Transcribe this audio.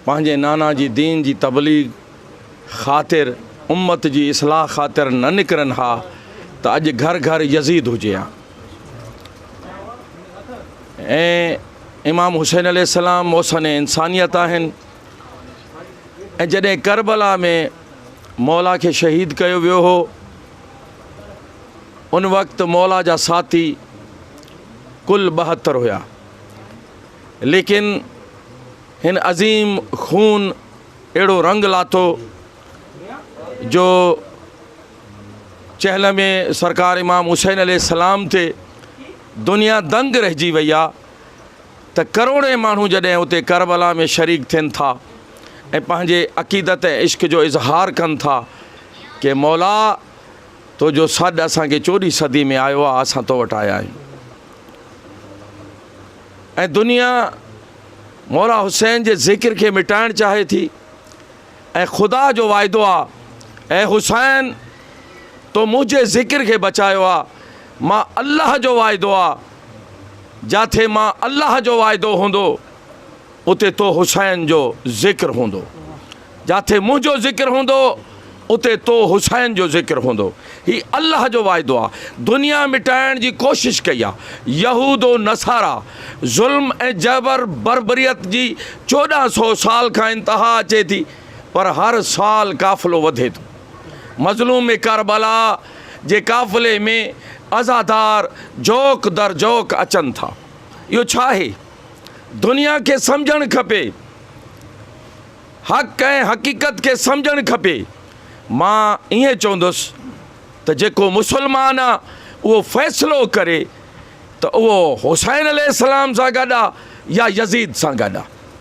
پنهنجي نانا جي دين جي تبليغ خاطر امت جي اصلاح خاطر نه نڪرن ها ته اڄ گهر گهر يزيد هجي ها ۽ امام حسين عليه السلام محسن انسانيت آهن ۽ جڏهن ڪربلا ۾ مولا کي شهيد ڪيو ويو هو ان وقت مولا جا ساٿي ڪل ٻهتر هيا ليڪن هن عظيم خون اهڙو رنگ لاٿو جو چهل ۾ سرڪار امام حسين عليه السلام تي دنيا دنگ رهجي وئي آ ته ڪروڙين ماڻهو جڏهن اتي ڪربلا ۾ شريڪ ٿين ٿا ۽ پنهنجي عقيدت ۽ عشق جو اظهار ڪن ٿا ڪي مولا تو جو سڏ اسان کي چوڏهين صدي ۾ آيو آ اسان تو وٽ آيا آهيون. ۽ دنيا مولا حسين جي ذڪر کي مٽائڻ چاهي ٿي ۽ خدا جو واعدو آ اي حسين تو منهنجي ذڪر کي بچايو آ مان الله جو واعدو آ جاٿي مان الله جو واعدو هوندو اتي تو حسين جو ذڪر هوندو. جاٿي منهنجو ذڪر هوندو اتي تو حسين جو ذڪر هوندو. هي الله جو واعدو آ. دنيا مٽائڻ جي ڪوشش ڪئي آ. يهود و نصارا ظلم ۽ جبر بربريت جي چوڏهن سو سال کان انتها اچي ٿي پر هر سال قافلو وڌي ٿو. مظلوم ڪربلا جي قافلي ۾ عزادار جوق در جوق اچن ٿا. اهو ڇا آهي؟ دنيا کي سمجهڻ کپي، حق ۽ حقيقت کي سمجهڻ کپي. مان ائين چوندس ته جيڪو مسلمان آ اهو فيصلو ڪري ته اهو حسين عليه السلام سان گڏ آ يا يزيد سان گڏ آ.